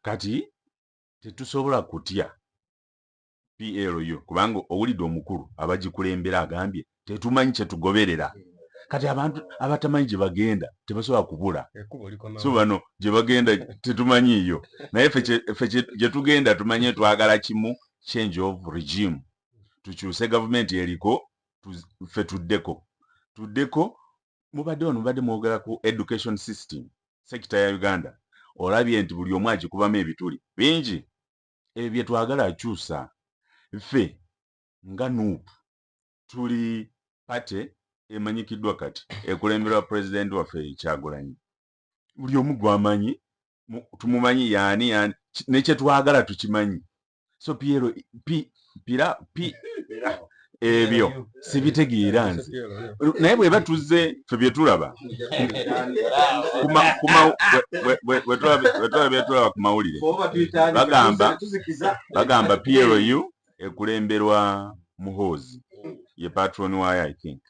kati tetusobola kutya pl yo kubanga owulidde omukulu abagikulembera agambye tetumanyi kyetugoberera kati abantu abatamanyi gye bagenda tebasobola kubula so bano gye bagenda tetumanyiiyo naye fe gye tugenda tumanye twagala kimu change of regime tukyuse gavumenti eriko fe tuddeko tuddeko mubadde wano mubadde mwogera ku education system sekita ya uganda olabye nti buli omu agikubamu ebituli bingi ebyo byetwagala akyusa ffe nga nup tuli pate emanyikiddwa kati ekulemberwa pulezidenti waffe ekyagulanyi buli omu gwamanyi tumumanyi yani yani nekyetwagala tukimanyi so piero pi pira pi ebyo sibitegeera nze naye bweba tuzze fe byetulaba bwetulaba byetulaba ku mawulire bagamba bagamba plu ekulemberwa muhoozi ye patron waayo i think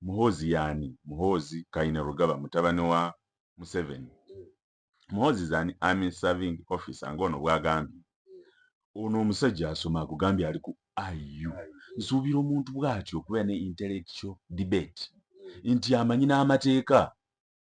muhoozi yaani muhoozi kaine rugaba mutabani wa museveni muhoozi is an army serving officer ngaono bwagambye ono omusajja asoma akugambye ali ku iu nsuubira omuntu bwatyo okubeera ne intellectual debate nti amanyi n'amateeka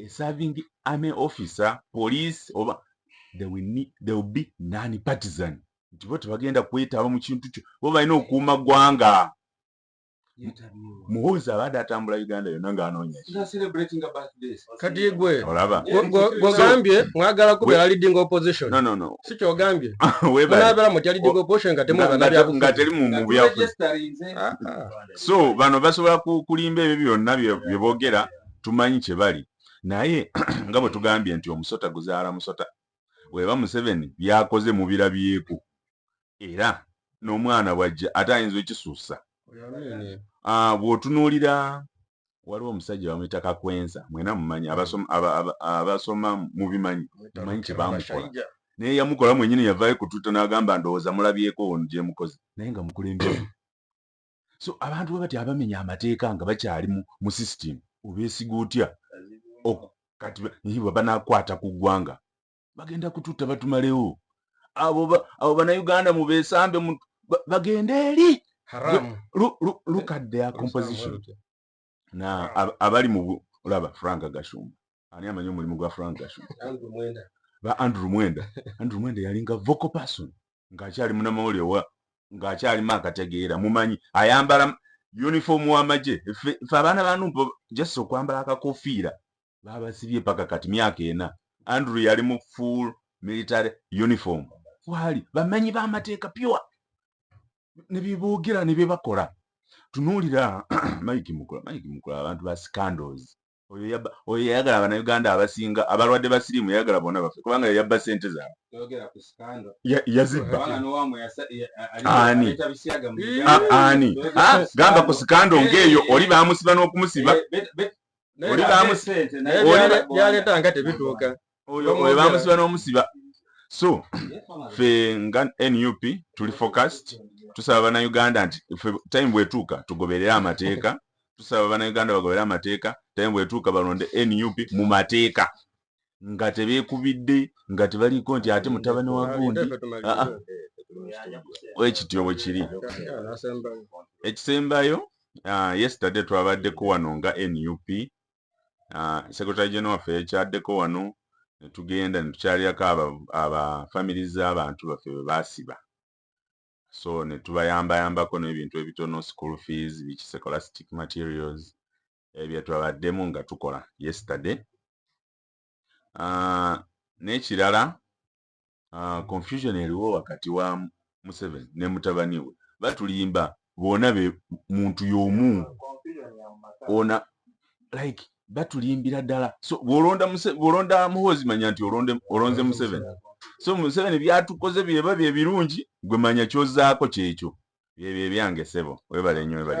a serving army officer police oba they will, need, they will be non partisan nti bo tebagenda kwetaba mu kintu kyo bo balina okuuma ggwanga muhoozi abadde atambula uganda yonna ng'anoonyakati gwe gwegambye mwagala kubeera leading opposition si kyogambye nabeera mutya leading opposition nga temubanabyabuga teri mu byafuzi ah, ah. so bano basobola kulimba ebyo byonna byeboogera tumanyi kyebali naye nga bwetugambye nti omusota guzaala musota weba museveni byakoze mubirabyeku era nomwana bwajja ate ayinza okisussa ah, bwotunuulira waliwo omusajja bamuyita kakwenza mwena mumanyi abasoma mubimanyi mumanyi kyebamukola naye yamukola mwenyini yavayo ku twitter nagamba ndowooza mulabyeko ono gyemukoze naye nga mukulembeze so abantu babati abamenya amateeka nga bakyali mu system obesiga otya kati niba banakwata ku ggwanga bagenda kututta batumalewo abo abo banauganda mubesambe bagende eri look at their composition na abali mu olaba frank gashumba ani amanyi omulimu gwa frank gashu ba andrew mwenda andrew mwenda yalinga vocal person ng'akyali munamawulire wa ng'akyalimu akategeera mumanyi ayambala uniform w'amagye fe abaana banumpa just okwambala akakofiira baabasibye paka kati myaka ena andrew yali mu full military uniform waali bamanyi b'amateeka pure ne byeboogera ne bye bakola tunuulira mike mukula mike mukula abantu ba scandals oyo yayagala abanauganda abasinga abalwadde ba siriimu yayagala bona bafe kubanga yayabba sente zaabwe yazibbaani ah, gamba ku sikando ngaeyo oli bamusiba n'okumusiba eh, oli bamusiba yaleeta nga tebituuka oyo bamusiba n'omusiba so fe nga nup tuli focused tusaba banauganda nti fe time bwetuuka tugoberere amateeka tusaba banauganda bagoberere amateeka time bwetuuka balonde nup mu mateeka nga tebekubidde nga tebaliiko nti ate mutabani wa gundi ah, ah. ekityo bwe kiri ekisembayo ah, yesterday twabaddeko wano nga nup ah, secretary general waffe yakyaddeko wano ne tugenda ne tukyalirako aba family z'abantu baffe bwe baasiba so ne tubayambayambako n'ebintu ebitono school fees biki secolastic materials ebyo twabaddemu nga tukola yesterday ah, n'ekirala Ah, confusion eriwo wakati wa museveni ne mutabani we batulimba bona be muntu yomu ona like batulimbira ddala so bwolonda bwolonda muhozi manya nti olonde olonze museveni so museveni byatukoze byeba bye birungi gwe manya kyozaako kyekyo byebyo ebyange sebo webale nyo webale